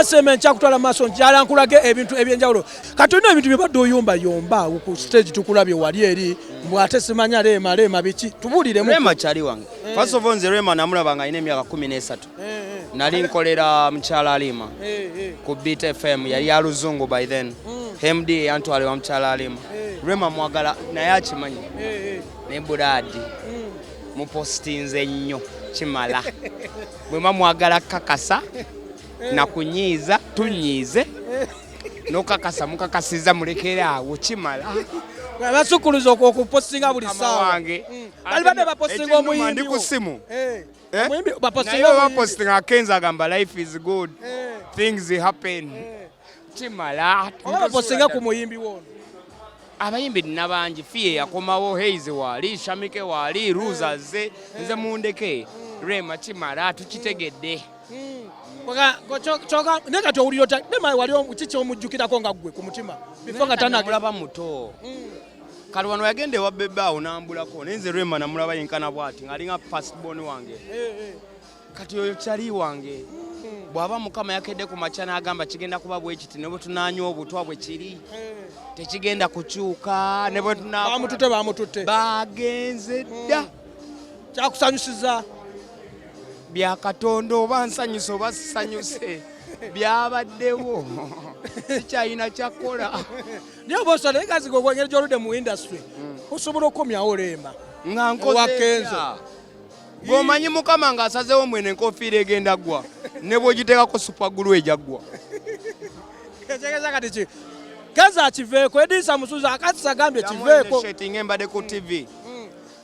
seme nkyakutwala maaso njala nkulage ebintu ebyenjawulo kati olina ebintu byebadde oyumbayumba ku stage tukulabye wali eri mbw ate simanya leema leema biki tubuliremu rema kyali wange eh. first of all nze rema namulaba nga alina emyaka kumi n'esatu eh, eh. nali nkolera mukyala alima eh, ku beat fm yali ya luzungu by then mm. hemd yantwala wa mukyala alima rema mwagala naye akimanyi ne buraadi mm. mupositinze nnyo kimala bwema mwagala kakasa nakunyiiza tunyiize nokakasa mukakasiza mulekere awo kimala basukuluza okupostinga buli saawa wange mm. bali bade bapostinga omuyimbi ndi ku simu eh. Eh? bapostinga akenza agamba life is good eh. things happen eh. kimala bapostinga ku muyimbi wono abayimbi nina bangi fiye yakomawo heize wali shamike wali ruza ze nze mundeke mm. rema kimala tukitegedde mm. kyoka naye kati owulira ota dema wali kiki omujjukirako nga ggwe ku mutima bifo nga tanagulaba muto mm. kati wano yagenda ewa bebe awo nambulako naye nze rema namulaba yenkana bwati ngaalinga fastbon wange eh, eh. kati oyo kyali wange hmm. bw'aba mukama yakedde ku makya n'agamba kigenda kuba bwekiti ne bwe tunanywa obutwa bwe kiri eh. tekigenda kukyuka ne bwe tunabamututte bamututte bagenze hmm. dda kyakusanyusiza bya katonda oba nsanyuse oba sisanyuse byabaddewo sikyalina kyakola naye oba osala naye kazi gogwengeri gyoludde mu industry mm. osobola okukomyawo olemba nga nkozewakenzo gwomanyi mukama nga asazewo mwene enkofiira egenda ggwa ne bwogiteekako supagulu ejaggwa ekyegeza kati ki kenzo akiveeko edisa musuza akatisa agambye kiveeko embadde ku tv